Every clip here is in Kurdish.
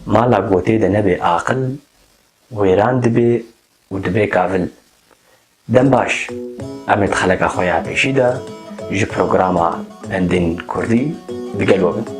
Mala gotê de nebe aqil, wêran dibe û dibe kavil. Dem baş, em ê di xeleka xwe ya pêşî de ji programa Pendên Kurdî di gel we bin.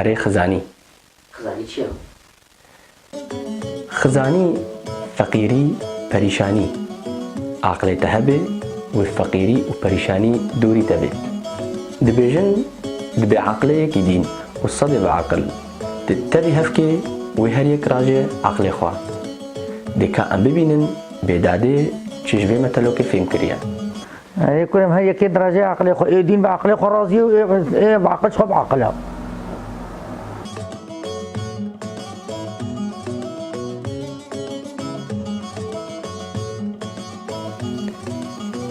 Erê xizanî. Xizanî çi ya? Xizanî, feqîrî, perîşanî. Aqilê te hebe wê feqîrî û perîşanî dûrî te bê. Dibêjin di bêaqilê yekî dîn û sedê biaqil dê tevî hevkê wê her yek raje aqilê xwe. Dê ka em bibînin bêdadê çi ji vê metelokê fêm kiriye. Ê kurê min hê yekê dirajê aqilê xwe, ê dîn bi aqilê xwe razî ye û ê ê aqil jixwe bi aqil e.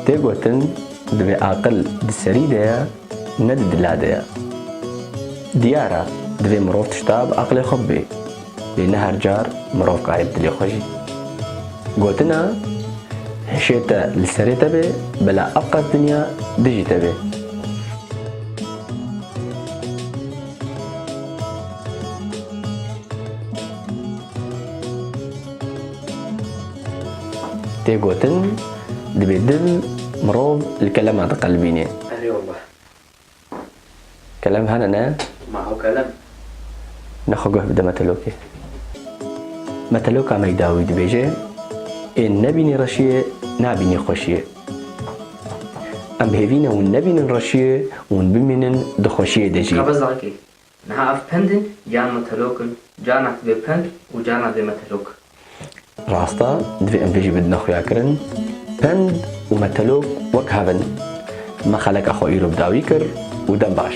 Tê gotin divê aqil di serî de ye ne di dila de ye. Diyar e divê mirov tişta bi aqilê xwe bibê. Lê ne her car mirov karê bi dilê xwe jî gotina hişê te li serê te bê, bila ev qas dinya dijî te bê. Tê gotin, dibê dil mirov li kelema diqelibînê. Elê Allah. Kelem hene ne? Ma hew kelem. Ne xwe guh bide metelokê. Meteloka me da wî dibêje, Ê nebînî reşiyê, nabînî xweşiyê. Em bi hêvî ne hûn nebînin reşiyê, hûn bimînin di xweşiyê de jî. Qebezankê, Niha ev pend in yan metelok in? Carna dibe pend û carna dibe metelok. Rast e, divê em vê jî bidine xuyakirin. Pend û metelok wek hev in. Me xeleka xwe îro bi dawî kir û dem baş.